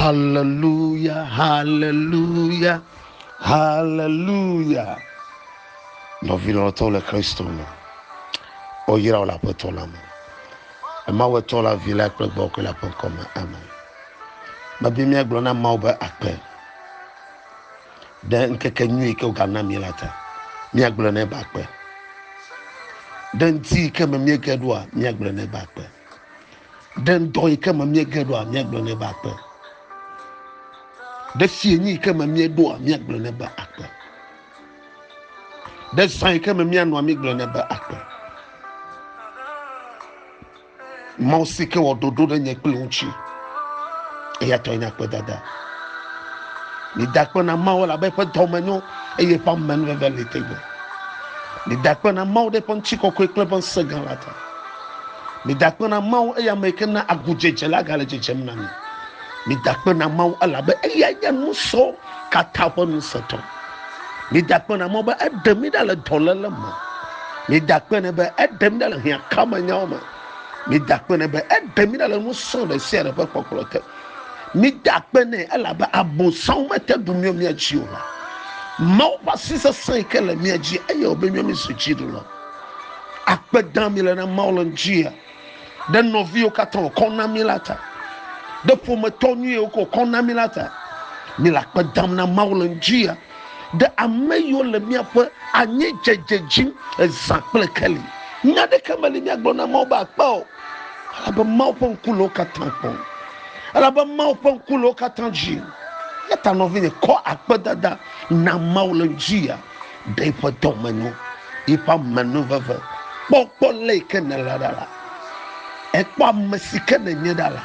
Haleluya, haleluya, haleluya. Nɔvi lɔlɔtɔwo le Kristo me. Woyra wo le Aƒetɔ la me. Emawu etɔ la vi la kple gbɔgbɔ la ƒe ŋkɔ me. Amen. Medi míagblɔ na Mawu be akpe. ɖe ŋkekenyui yi ke wògana mí la ta, míagblɔ nɛ be akpe. Ɖe ŋdi yi ke me míege ɖoa, míagblɔ nɛ be akpe. Ɖe ŋdɔ yi ke me míege ɖoa, míagblɔ nɛ be akpe. Ɖe fienyi yi ke me míeɖoa, míagblɔ nɛ be akpe. Ɖe zã yi ke me míanɔa, mígblɔ nɛ be akpe. Mawu si ke wɔ ɖoɖo ɖe nye kple ŋutsi. Eya tɔe nye akpedada. Mida akpe na Mawu elabe eƒe dɔme nyo eye eƒe amenuveve li tegbe. Mida akpe na Mawu ɖe eƒe ŋutikɔkɔe kple eƒe ŋusẽ gã la ta. Mida akpe na Mawu eya ame yi ke na agudzedze la gale dzedzem na mi. Mida akpe na Mawu elabe eyae nye nusɔ katã ƒe ŋusẽtɔ. Migakpɔna mɔ be eɖe mí ɖa le dɔléle me. Migakpɔnɛ be eɖe mí ɖa le hiãkamenyawo me. Migakpɔnɛ be eɖe mí ɖa le nusrɔ̃ ɖe sia ɖe ƒe kpɔkplɔ te. Migakpɔnɛ elabe abosam mete ɖu mía mía dzi o. Mawu ƒe asi sesẽ yi ke le mía dzi eye wòbe mía míezu dziɖuɖu la akpe dam míele na Mawu le ŋuti ɖe nɔviwo katã wòkɔ na mí la ta, ɖe ƒometɔ nyui yiwo ke wòkɔ na mí la ta. Míle akpe dam na Mawu le ŋdi ya ɖe ame yiwo le míaƒe anyidzedze dzim zã kple keli. Nya aɖeke meli míagblɔ na Mawu be akpe o, elabe Mawu ƒe ŋku le wo katã kpɔm. Elabe Mawu ƒe ŋku le wo katã dzi. Eya ta nɔvinye, kɔ akpedada na Mawu le ŋdi ya. Ɖe eƒe dɔmenu, eƒe amenuveve. Kpɔ, kpɔ le yi ke nèle ɖa la. Ekpɔ ame si ke nènye ɖa la.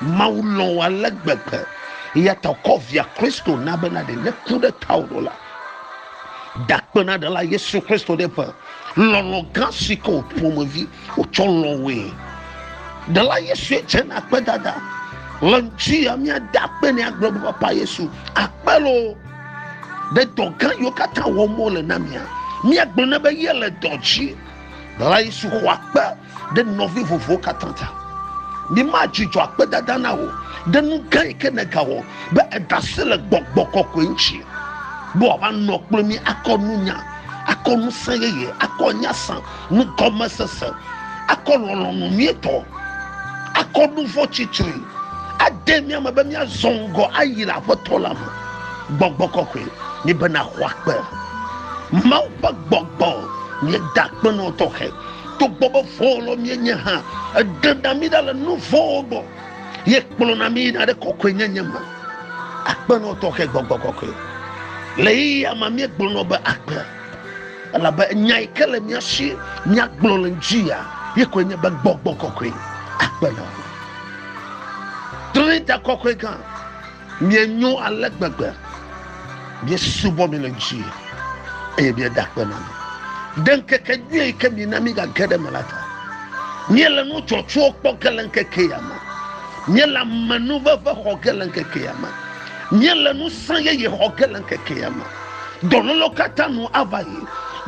Mawu lɔ̃ wò ale gbegbe eya ta wòkɔ via Kristo na bena ɖe neku ɖe tawò ɖo la, ɖakpenaɖela Yesu Kristo ɖe ƒe lɔlɔ̃ gã si ke wò ƒomevi wotsɔ lɔ̃ woe. Ɖela Yesu dze na akpedada le ŋuti ya míada akpe ne agblɔ be Papa Yesu, akpe loo. ɖe dɔ gã yiwo katã wɔm wole na mia míagblɔ na be yele dɔ dzi la yi su xɔ akpe ɖe nɔvi vovowo katã ta mima dzidzɔ akpedada na wò ɖe nu gã yi ke nègawɔ be edasi le gbɔgbɔ kɔkɔe ŋuti be wòava nɔ kple mí akɔ nunya akɔ ŋusẽ yeye akɔ nya sã nugɔmesese, akɔ lɔlɔ̃nu nyuitɔ, akɔ nu vɔ̃ tsitri, ade mía me be míazɔ ŋgɔ ayi le Aƒetɔ la me. Gbɔgbɔ kɔkɔe nye be nàxɔ akpe. Mawu ƒe gbɔgbɔ nye dakpenɔ tɔxɛ. Togbɔ be vɔ̃wɔlɔ míenye hã, eɖena mí ɖa le nu vɔ̃wo gbɔ, ye kplɔna mí yina ɖe kɔkɔenyenye me. Akpenɔ tɔxɛ gbɔgbɔ kɔkɔe. Le ɣeyiɣia me míegblɔnɔ be akpe. elabe nya yi ke le mía si míagblɔ le ŋutia ye koe nye be gbɔgbɔ kɔkɔe akpe nɔ trinita kɔkɔe gã mienyo ale gbegbe miesubɔ mi le ŋuti eye mieda akpe nɔ mi ɖe ŋkeke nyui yi ke mina mígage ɖe me la ta míele nu dzɔtsuwo kpɔ ge le ŋkeke ya me míele amenuveve xɔ ge le ŋkeke ya me Míele ŋusẽ yeye xɔ ge le ŋkekea me. Dɔlélewo katã nu ava yi,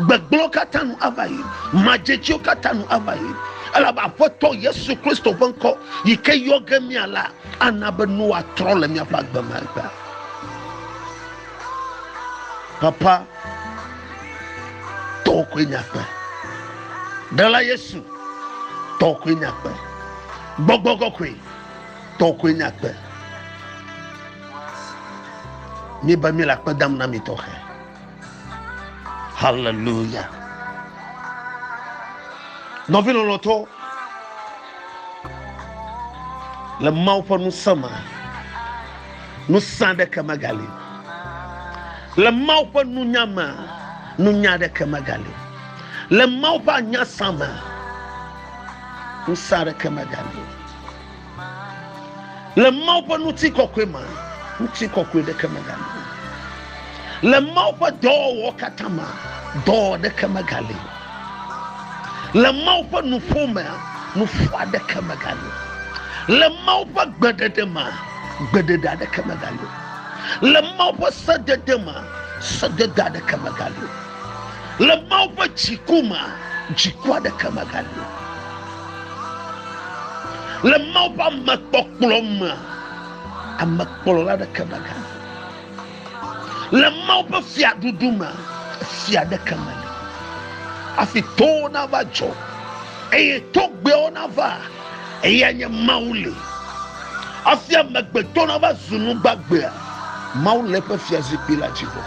gbegblẽwo katã nu ava yi, madzetsiwo katã nu ava yi, elabe Aƒetɔ Yesu Kristo ƒe ŋkɔ yi ke yɔ ge mía la ana be nua trɔ le míaƒe agbe me egbea. Papa, tɔwò koe nye agbe. Ɖela Yesu, tɔwò koe nye agbe. Gbɔgbɔ kɔkɔe. Tɔ koe nye akpe. Mi be mi le akpe dam na mi tɔxe. Hallelujah. Nɔvi lɔlɔtɔ le Mawu ƒe ŋusẽ me. Ŋusẽ aɖeke megali. Le Mawu ƒe nunya me, nunya aɖeke megali. Le Mawu ƒe anyasa me, ŋusẽ aɖeke megali. Le Mawu ƒe ŋutikɔkɔe mea, ŋutikɔkɔe ɖeke megali o. Le Mawu ƒe dɔwɔwɔ katã mea, dɔwɔwɔ ɖeke megali o. Le Mawu ƒe nuƒo mea, nuƒo aɖeke megali o. Le Mawu ƒe gbeɖeɖe mea, gbeɖeɖe aɖeke megali o. Le Mawu ƒe sedede mea, sedede aɖeke megali o. Le Mawu ƒe dziku me, dziku aɖeke megali o. Le Mawu ƒe amekpɔkplɔ me, amekplɔla aɖeke megali o. Le Mawu ƒe fiaɖuɖu me, fia aɖeke meli. Hafi towo nava dzɔ eye togbɛwo nava, eya nye Mawu li. Hafi amegbetɔ nava zu nu gbagbe, Mawu le eƒe fiazikpui la dzi vɔ.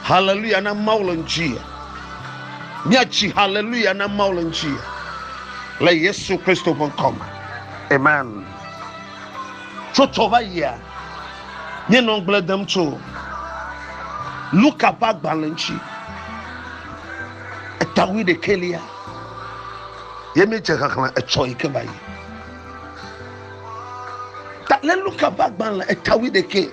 Haleluya na Mawu le ŋuti. Míatsi haleluya na Mawu le ŋuti le Yesu Kristo ƒe ŋkɔ me. Amen. Tso tsɔ va yia, míenɔ ŋugble dem tso Luka ƒe agbalẽ ŋuti. Etawui ɖekɛlia ye míedze xexlẽ etsɔ yi ke va yi. Ta le Luka ƒe agbalẽ etawui ɖekɛ.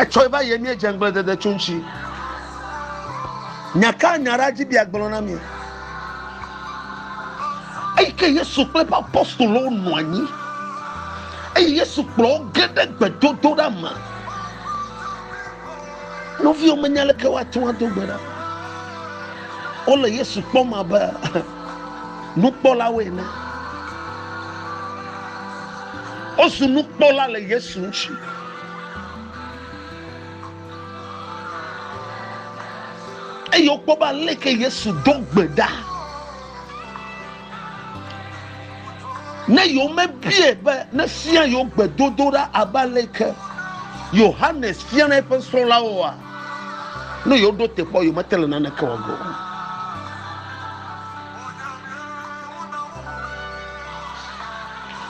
Etsɔe va yie míedze ŋgbledede tso ŋuti. Nya ka nya ɖa dzi bia gblɔ na mi? Eyi ke Yesu kple eƒe apostolowo nɔ anyi eye Yesu kplɔ wo ge ɖe gbedodoɖa me. Nɔviwo menya leke woate ŋu ado gbe ɖa. Wole Yesu kpɔm abe nukpɔlawoe nye. Wozu nukpɔla le Yesu ŋuti. Eye wokpɔ be aleke Yesu ɖo gbe ɖa. Ne yewomebie be nefia yewo gbedodoɖa abe aleke Yohanes fiana eƒe srɔ̃lawoa, Ne yewo ɖo te kpɔ, yewo mete le nane ke wɔ ge o.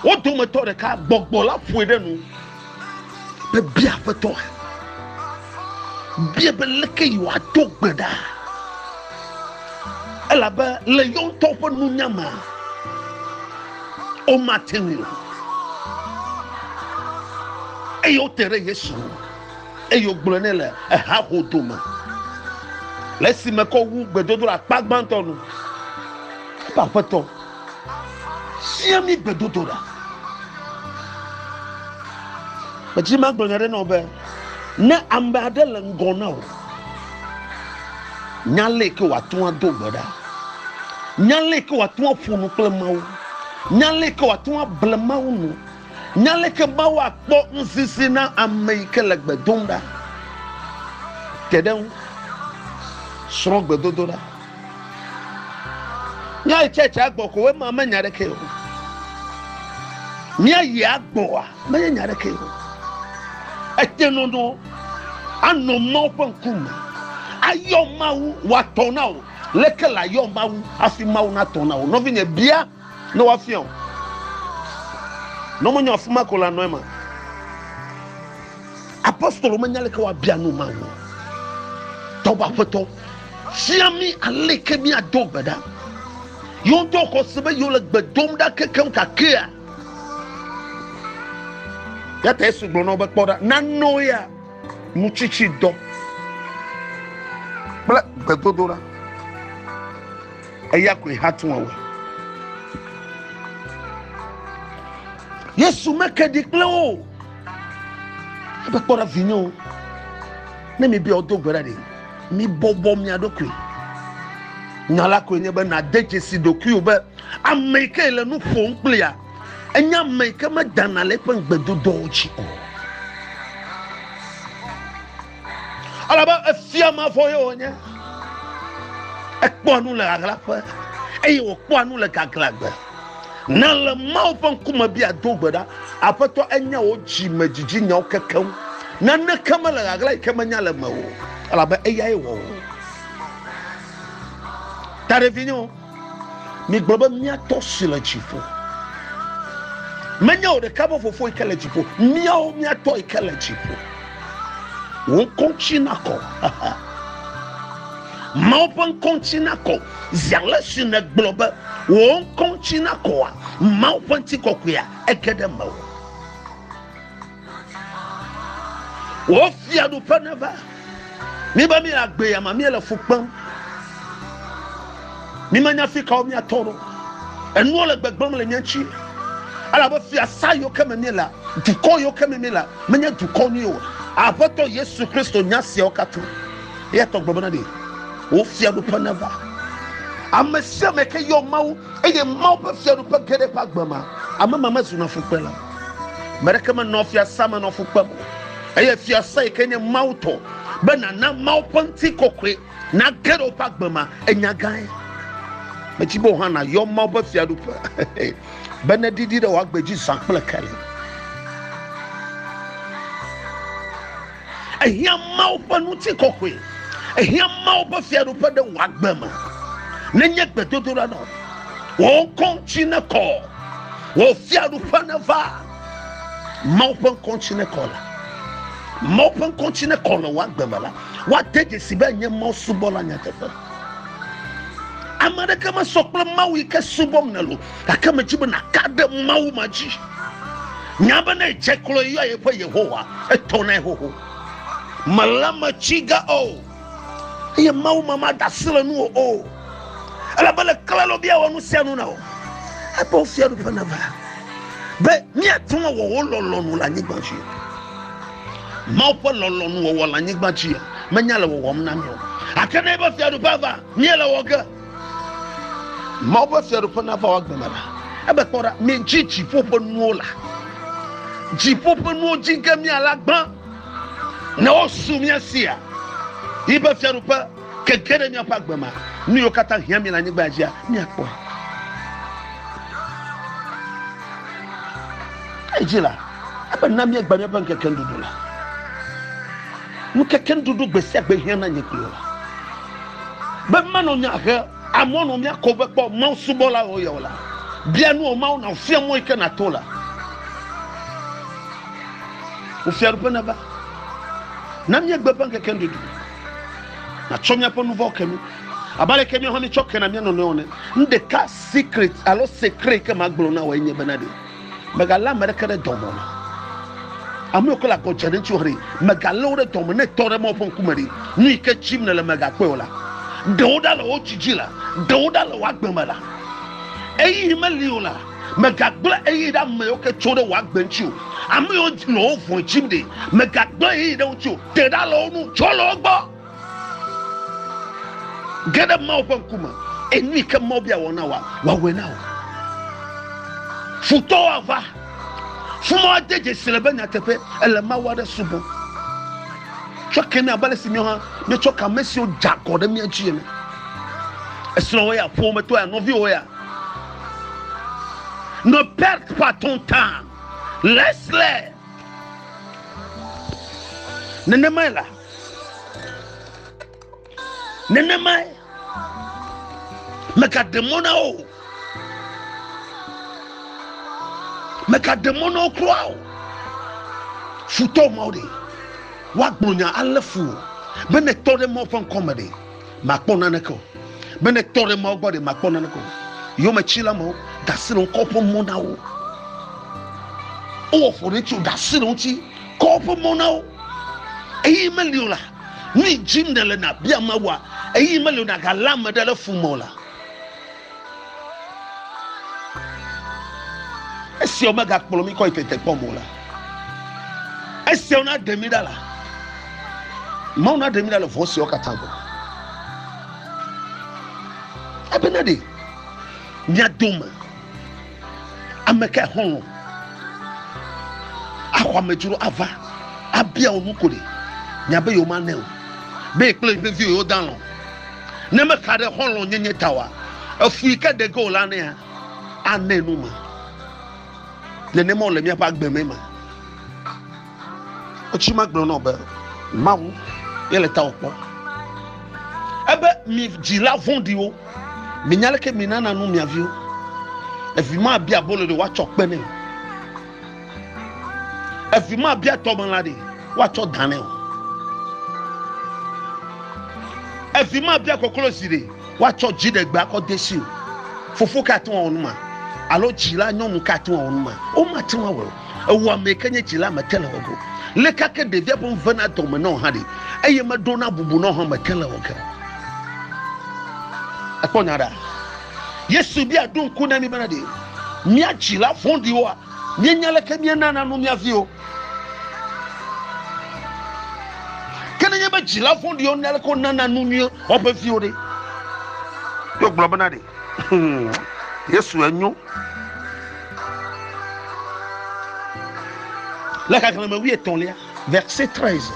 Wo dometɔ ɖeka gbɔgbɔ la ƒoe ɖe nu be bia aƒetɔ, bia be leke yi wòado gbe ɖa. Elabe le yewo ŋutɔ ƒe nunya me, womate ŋui o. Eye wote ɖe Yesu ŋu. Eye wògblɔ nɛ le haho dome, le esime kɔ wu gbedodoɖa akpa gbãtɔ nu be, Aƒetɔ, fia mí gbedodoɖa. Medi be magblɔ nya aɖe na wò be, ne ame aɖe le ŋgɔ na wò, nya ale ke wòate ŋu ado gbe ɖa, nya ale ke wòate ŋu aƒo nu kple Mawu, nya ale ke wòate ŋu able Mawu nu. Nya aleke Mawu akpɔ ŋsisi na ame yi ke le gbe dom ɖa te ɖe eŋu. Srɔ̃ gbedodoɖa. Míayi tsɛtsɛ agbɔ ko ema menya ɖeke o. Míayi agbɔa menye nya ɖeke o. Ete nɔnɔ anɔ Mawu ƒe ŋkume ayɔ Mawu wòatɔ na wò. Leke le ayɔ Mawu hafi Mawu natɔ na wò? Nɔvinye, bia Ne woafia o. Ne womenyo afi ma ko la, nɔ ema. Apostolo menya leke woabia nu ma o. Tɔgbe aƒetɔ, fia mi aleke míado gbe ɖa. Yewo ŋutɔ xɔ se be yewo le gbe dom ɖa kekeŋ gakea. Ya ta Yesu gblɔ na wo be, kpɔ ɖa, nanɔ ya nutsitsidɔ kple gbedodoɖa. Eya koe hatu wɔwɔe. Yesu meke ɖi kple wo. Ebe kpɔ ɖa vinye o. Ne mi bia wodo gbe ɖa ɖi. Mi bɔbɔ mia ɖokui. Nya la koe nye be na de dzesi ɖokui o be ame yi ke le nu ƒom kple ya. Enye ame yi ke me dana le eƒe ŋgbedodoawo dzi o. Alabe efia mavɔ ye wònye. Ekpɔa nu le ahlaƒe eye wòkpɔa nu le gaglãgbe. Na le Mawu ƒe ŋkume bia do gbe ɖa. Aƒetɔ enya wò dzime dzidzi nyawo kekeŋ. Naneke mele ɣaɣla yi ke menya le me o, elabe eyae wɔ wò. Taɖevinyewo. Migblɔ be, Mía Tɔ si le dziƒo. Menye o ɖeka be Fofo yi ke le dziƒo. Míawo, mía Tɔ yi ke le dziƒo. Wò ŋkɔ ŋuti nakɔ. Mawu ƒe ŋkɔ ŋuti nakɔ. Zi ale si nègblɔ be wò ŋkɔ ŋuti nakɔa, Mawu ƒe ŋutikɔkɔea ege ɖe mewò. Wò fiaɖuƒe neva. Mi be mi le agbe ya ma, mi le fu kpem. Mi me nya fi kawo mi atɔ ɖo. Enuwo le gbegblem le mi ŋuti. Elabe fiasa yiwo ke me mi la, dukɔ yiwo ke me mi la, menye dukɔ nyui o. Aƒetɔ Yesu Kristo nya siawo katã. Eya tɔ gbɔgblɔ na ɖi. Wò fiaɖuƒe neva. Ame sia ame ke yɔ Mawu eye Mawu ƒe fiaɖuƒe ge ɖe eƒe agbe ma, ame ma mezuna fukpela. Me ɖeke menɔ fiasã me nɔ fu kpem o, eye fiasã yi ke nye Mawu tɔ be nàna Mawu ƒe ŋutikɔkɔe nage ɖe woƒe agbe ma, enya gãe. Medi be wò hã nàyɔ Mawu ƒe fiaɖuƒe be neɖiɖi ɖe wò agbe dzi zã kple keli. Ehiã Mawu ƒe ŋutikɔkɔe. Ehiã Mawu ƒe fiaɖuƒe ɖe wò agbe me. Nenye gbedodoɖa nɔ wò ŋkɔ ŋuti nekɔ, wò fiaɖuƒe neva. Mawu ƒe ŋkɔ ŋuti nekɔ la. Mawu ƒe ŋkɔ ŋuti nekɔ le wò agbe me la. Woade dzesi be enye Mawu subɔla nyateƒe. Ame aɖeke mesɔ kple Mawu yi ke subɔm nèle o. gake medzi be nàka ɖe mawu ma dzi nya be ne edze klo yɔa yeƒe yehowa etɔnae xoxo mele me tsi ga o eye mawu ma mada asi le nuwò o ele be le klalo bia wɔ nu sia nu na o ebe wofia ɖuƒe na va be míate ŋu awɔ wo lɔlɔnu le anyigba dzi mawu ƒe lɔlɔnu wɔwɔ le anyigba dzi menya le wɔwɔm na mi o gake ne ebe fiaɖuƒe va míele wɔ ge Mawu ƒe fiaɖuƒe nava wò agbe me la. Ebe kpɔ ɖa, midzi dziƒo ƒe nuwo la. Dziƒo ƒe nuwo dzi ge miala gbã ne wosu mía sia. Yi be fiaɖuƒe keke ɖe míaƒe agbe me. Nu yiwo katã hiã mi le anyigba dzia, miakpɔe. Edzi la, ebe na míegba míaƒe ŋkeke nuɖuɖu la. Ŋutete nuɖuɖu gbe sia gbe hiã na nye kplɔla. Be manɔ nya he amɔ nɔ mía ko be kpɔ Mawu subɔla o yɔ la, bia nu o Mawu na fia mɔ yi ke nato la. Wò fiaɖuƒe nava. Na míegbe eƒe ŋkeke nuɖuɖu. Natsɔ míaƒe nu vɔ̃wo ke mí. Abe ale ke míawo hã míetsɔ kena mía nɔnɔewo ne. Nu ɖeka secret alo secret yi ke magblɔ na wò enye bena ɖe. Mègalé ame aɖeke ɖe dɔme o. Ame yiwo ke le agɔ dze ɖe ŋutiwò haɖe, mègalé wo ɖe dɔme. Ne ètɔ ɖe Mawu ƒe ŋkume ɖe, nu yi ke tsim nèle mègakpɔe o la, ɖe wo ɖa le wò dzi dzi la, ɖe wo ɖa le wò agbe me la, ɣeyiɣi meli o la, mègagblẽ ɣeyiɣi ɖe ame yiwo ke tso ɖe wò agbe ŋuti o. Ame yiwo le wò vɔ̃e tsim ɖe, mègagblẽ ɣeyiɣi ɖe wo ŋuti o. Te ɖa le wo ŋu, tsrɔ̃ le wo gbɔ. Ge ɖe Mawu ƒe ŋkume, enu yi ke Mawu bia wɔ na wòa, wòawɔe na wò. Futɔwo ava, fuma woade dzesi le be nyateƒe ele Mawu aɖe subɔm. Tsɔ ke mi abe ale si míawo hã míetsɔ ke ame siwo dze agɔ ɖe mía dzi ene. Esrɔ̃wò ya, ƒometɔ ya, nɔviwò ya. Ne perte pas ton temps, laisse-les. Nenemae la, nenemae megaɖe mɔ na wo megaɖe mɔ na wo kura o futɔ mawo ɖe woagblɔ nya alé fu o be ne tɔ ɖe mawo ƒe ŋkɔme ɖe makpɔ naneke o be ne tɔ ɖe mawo gbɔ ɖe makpɔ naneke o yometsila mawo ɖasi le ŋkɔ ƒe mɔ na wo wowɔ ƒo ɖe tso ɖasi le ŋuti Kɔ woƒe mɔ na wo. Eye meli o la, nu yi dim nèle nàbia Mawua, eye meli o nàgalé ame ɖe ɖe fu me o la, esiawo megakplɔ mí kɔ yi tetekpɔ me o la, esiawo naɖe mí ɖa la, Mawu naɖe mí ɖa le vɔ̃ siawo katã gbɔ. Ebena ɖe mía dome Amekae xɔlɔ̃ axɔ amedzro ava abia wò nu ko ɖe? Nya be yewomanɛ o, be ye kple yeƒe viwo yewoda alɔ̃. Ne mexa ɖe xɔlɔ̃nyenye ta oa, efu yi ke ɖe ge wòle anɛa, anɛ nu ma. Nenema wòle míaƒe agbe me ema. Wotsi magblɔ nɔ be Mawu ye le tawò kpɔ. Ebe mi dzila vɔ̃ɖiwo, minya leke minana nu mia viwo. Evi mabia abolo ɖe woatsɔ kpe nɛ o. Evi mabia tɔmelã ɖe woatsɔ da nɛ o. Evi mabia koklozi ɖe woatsɔ dziɖegbe akɔ de si o. Fofo ka ate ŋu awɔ nu ma? Alo dzila nyɔnu ka ate ŋu awɔ nu ma? Womate ŋu awɔe o. Ewɔamee ke nye dzila mete le wɔ ge o. Leka ke ɖevia ƒe nu vena dɔme nɔ hã ɖe, eye meɖona bubu nɔ hã mete le wɔ ge o. Ekpɔ nya ɖa. Yesu bia ɖo ŋku na mi bena ɖe mía dzila vɔ̃ɖiwoa míenya leke míenana nu mía viwo. Ke nenye be dzila vɔ̃ɖiwo nya leke wonana nu nyuie woƒe viwo ɖe, yewogblɔ bena ɖe Hmm, Yesu enyo. Le xexlẽme wuietɔ̃lia, verse 13.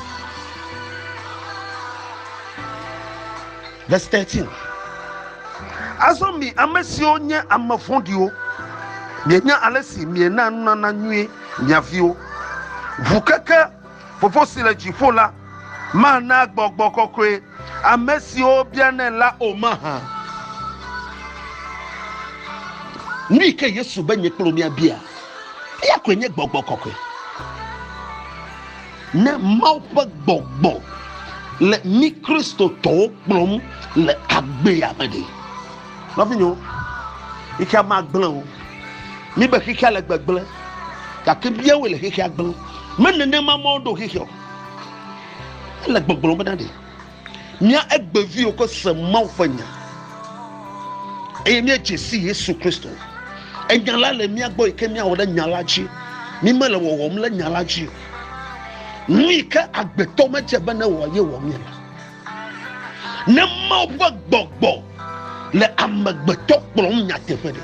Verse 13. Azɔ mi ame siwo nye ame vɔ̃ɖiwo, mienya ale si miena nunana nyuie mia viwo ŋu keke Fofo si le dziƒo la mana gbɔgbɔ kɔkɔe ame siwo bianɛ la o mahã? Nui ke Yesu be nye kple wò míabia? Eya koe nye gbɔgbɔ kɔkɔe. Ne Mawu ƒe gbɔgbɔ le mí Kristotɔwo kplɔm le agbea me ɖe, Nɔvinyewo, xexea magblẽ o. Mi be xexea le gbegblẽ, gake biawoe le xexea gblẽ. Me nenema ma woɖo xexea o. Ele gbɔgblɔ bena ɖe mía egbeviwo ke se Mawu ƒe nya eye míedze si Yesu Kristo. Enya la le mía gbɔ yi ke míawɔ ɖe nya la dzi. Mi mele wɔwɔm le nya la dzi o. Nu yi ke agbetɔ medze be ne wɔ ye wɔ mí la. Ne Mawu ƒe gbɔgbɔ le amegbetɔ kplɔm nyateƒe ɖe,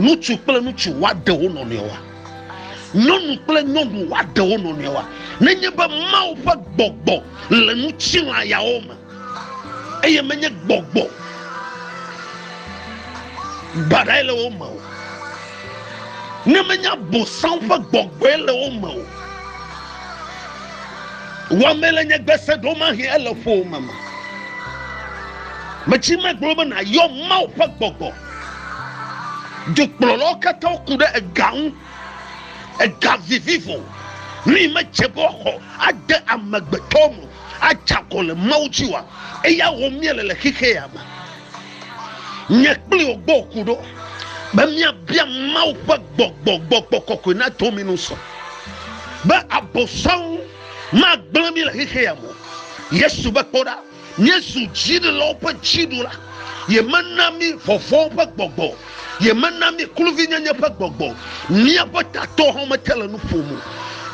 ŋutsu kple ŋutsu woaɖe wo nɔnɔewoa? Nyɔnu kple nyɔnu woaɖe wo nɔnɔewoa? Nenye be Mawu ƒe gbɔgbɔ le ŋutilã yawo me eye menye gbɔgbɔ baɖae le wo me o, ne menye abosam ƒe gbɔgbɔe le wo me o, Wɔmee le nye gbese ɖomahie ele ƒowòme me. Metsi megblɔ be nàyɔ Mawu ƒe gbɔgbɔ. Dukplɔlawo katã ku ɖe ega ŋu. Ega vivivo nu yi medze be woaxɔ ade amegbetɔwo me adze agɔ le Mawu dzi oa, eya wɔm míele le xexea me. Nye kpli wò gbɔ ku ɖo be míabia Mawu ƒe gbɔgbɔ, gbɔgbɔ kɔkɔe nado mí nu sɔ be Abosam magblẽ mí le xexea me o. Yesu be, Kpɔ ɖa, míezu dziɖulawo ƒe dziɖula. Yemena mí vɔvɔ̃ ƒe gbɔgbɔ o, yemena mí kluvinyenye ƒe gbɔgbɔ o. Míaƒe tatɔwo hã mete le nu ƒom o.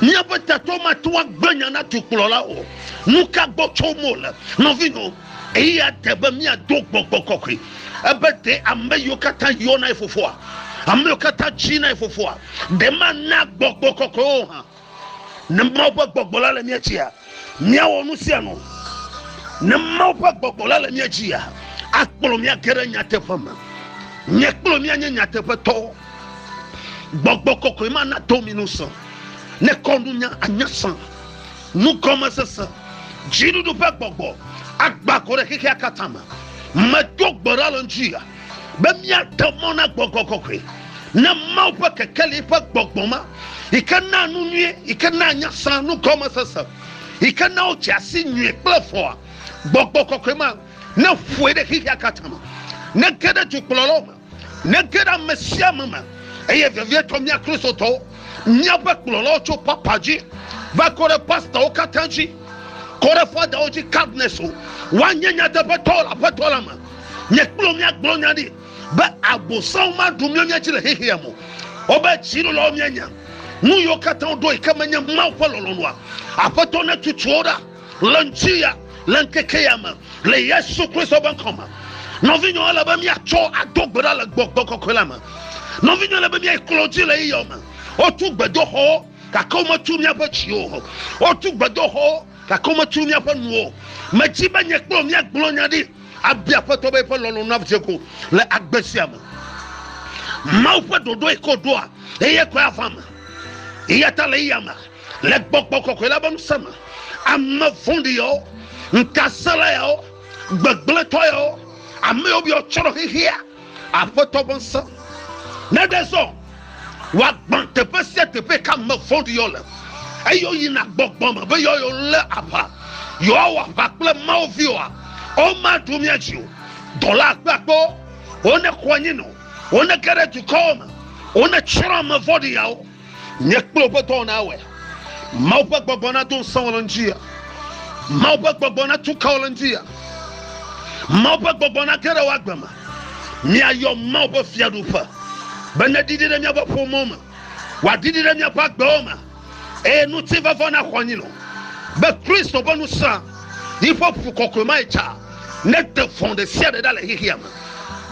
Míaƒe tatɔwo mate ŋu agblẽ nya na dukplɔla o. Nu ka gbɔ tsom wole, nɔvinyewo? Eya te be míado gbɔgbɔ kɔkɔe. Ebe, Ɖe ame yiwo katã yɔna ye fofoa, ame yiwo katã tsina ye fofoa, ɖe mana gbɔgbɔ kɔkɔe wo hã? Ne Mawu ƒe gbɔgbɔ la le mía dzia, míawɔ nu sia nu. Ne Mawu ƒe gbɔgbɔ la le mía dzia, akplɔ mí age ɖe nyateƒe me. Nye kple mía nye nyateƒetɔwo. Gbɔgbɔ kɔkɔe ma nato mí ŋusẽ. Ne kɔnunya anya sã. Nugɔmesese, Dziɖuɖu ƒe gbɔgbɔ agbã go ɖe xexea katã me. Medo gbe ɖa le ŋutia be míaɖe mɔ na gbɔgbɔ kɔkɔe, na Mawu ƒe kekeli ƒe gbɔgbɔ ma yi ke naa nu nyui, yi ke naa nya sã, nugɔmesese, yi ke naa wodze asi nyui kple vɔ̃a. Gbɔgbɔ kɔkɔe ma neƒoe ɖe xexea katã me, nege ɖe dukplɔlawo me. Nege ɖe ame sia ame me, eye vevietɔ mía Kristotɔwo, míaƒe kplɔlawo tso papa dzi va kɔ ɖe pastawo katã dzi, kɔ ɖe fadawo dzi, cardinals o, woanye nyateƒetɔwo le Aƒetɔ la me. Nye kple wò míagblɔ nya ɖi be Abosam maɖu mía mía dzi le xexea me o. Wobe dziɖulawo míanya nu yiwo katã woɖo yi ke menye Mawu ƒe lɔlɔ̃nua. Aƒetɔ netutu wo ɖa. Le ŋutiya, le ŋkeke ya me, le Yesu Kristo ƒe ŋkɔ me, nɔvinyewo ele be míatsɔ ado gbe ɖa le gbɔgbɔ kɔkɔe la me. Nɔvinyewo ele be míayi klo dzi le yeyɔ me. Wotu gbedoxɔwo, gake wometu míaƒe dziwo o. Wotu gbedoxɔwo, gake wometu míaƒe nuwo o. Medi be nye kple mía gblɔ nya ɖi abia Aƒetɔ be eƒe lɔlɔ̃ na dze go le agbe sia me. Mawu ƒe ɖoɖoe ko ɖoa eye koe ava me. Eya ta le eya me. Le gbɔgbɔ kɔkɔe la ƒe ŋusẽ me, ame vɔ̃ɖi yawo, ŋutasẽla yawo, gbegblẽtɔ yawo, ame yawo biɔ tsrɔ̃ xexea, Aƒetɔ ƒe ŋusẽ neɖe zɔ wòagbã teƒe sia teƒe yi ke ame vɔ̃ɖi yawo le, eye woyina gbɔgbɔ me be yewoa yewolé aʋa, yewoawɔ aʋa kple Mawu viwoa, womaɖo mía dzi o. Dɔla akpeakpewo, wonekɔ anyi nɔ, wonege ɖe dukɔwo me, wonetsrɔ̃ ame vɔ̃ɖi yawo. Nye kple wò ƒe dɔwɔna awɔe. Mawu ƒe gbɔgbɔ nado ŋusẽ wò le ŋuti. Mawu ƒe gbɔgbɔ natu ka wò le ŋuti. Mawu ƒe gbɔgbɔ nage ɖe wò agbe me. Míayɔ Mawu ƒe fiaɖuƒe be neɖiɖi ɖe míaƒe ƒomewo me, wòaɖiɖi ɖe míaƒe agbewo me, eye ŋutifafã naxɔ anyi nɔ be Kristo ƒe ŋusẽ, yiƒe ƒu kɔkɔe ma yi tsa nede vɔ̃ ɖe sia ɖe ɖa le xexea me.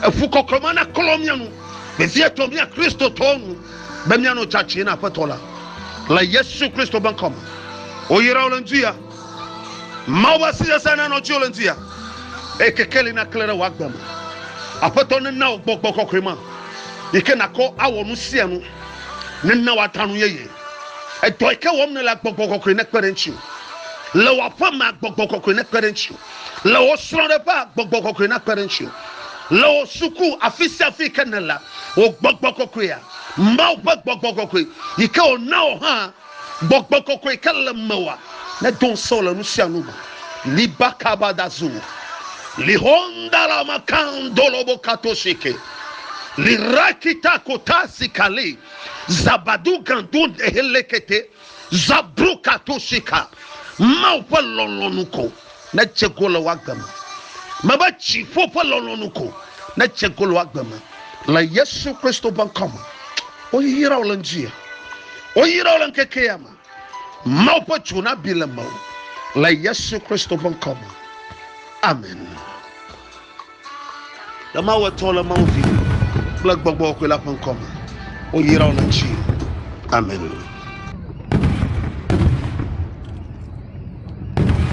Eƒu kɔkɔe ma naklɔ mía nu vevietɔ, mía Kristotɔwo nu. be míanɔ tsatsie na Aƒetɔ la le Yesu Kristo ƒe ŋkɔ me. Woyra wò le ŋdi ya. Mawu ƒe asi sesẽ nanɔ dziwò le ŋdi ya eye kekeli naklẽ ɖe wò agbe me. Aƒetɔ nena wò gbɔgbɔ kɔkɔe ma yi ke nàkɔ awɔ nu sia nu. Nena wòada nu yeye. Edɔ yi ke wɔm nèle agbɔgbɔ kɔkɔe nekpe ɖe ŋutiwò. Le wò aƒe mea gbɔgbɔ kɔkɔe nekpe ɖe ŋutiwò. Le wò srɔ̃ɖeƒea, gbɔgbɔ kɔkɔe nakpe ɖe ŋutiwò. Le wò suku, afi sia afi yi ke nèlea, wò gbɔgbɔ kɔkɔea, Mawu ƒe gbɔgbɔ kɔkɔe, yi ke wòna wò hã, gbɔgbɔ kɔkɔe yi ke le mewòa, nedo ŋusẽ wò le nu sia nu me. Liba kaba da zu. Lihondala makandolobo katoshike. Lirakita kotasi kali. Zabadu gandu dehelekete. Zabroka to sika. Mawu ƒe lɔlɔ̃nu ko nedze go le woagbe me. Mebe dziƒo ƒe lɔlɔ̃nu ko nedze go le woagbe me. Le Yesu Kristo ƒe ŋkɔ me, woyra wo le ŋdi ya. Woyra wo le ŋkeke ya me. Mawu ƒe dzo nabi le mewò le Yesu Kristo ƒe ŋkɔ me. Amen. Le Mawu etɔ̃ le Mawu Vi kple Gbɔgbɔ Kɔkɔe la ƒe ŋkɔ me, woyra wo le ŋutsi. Amen.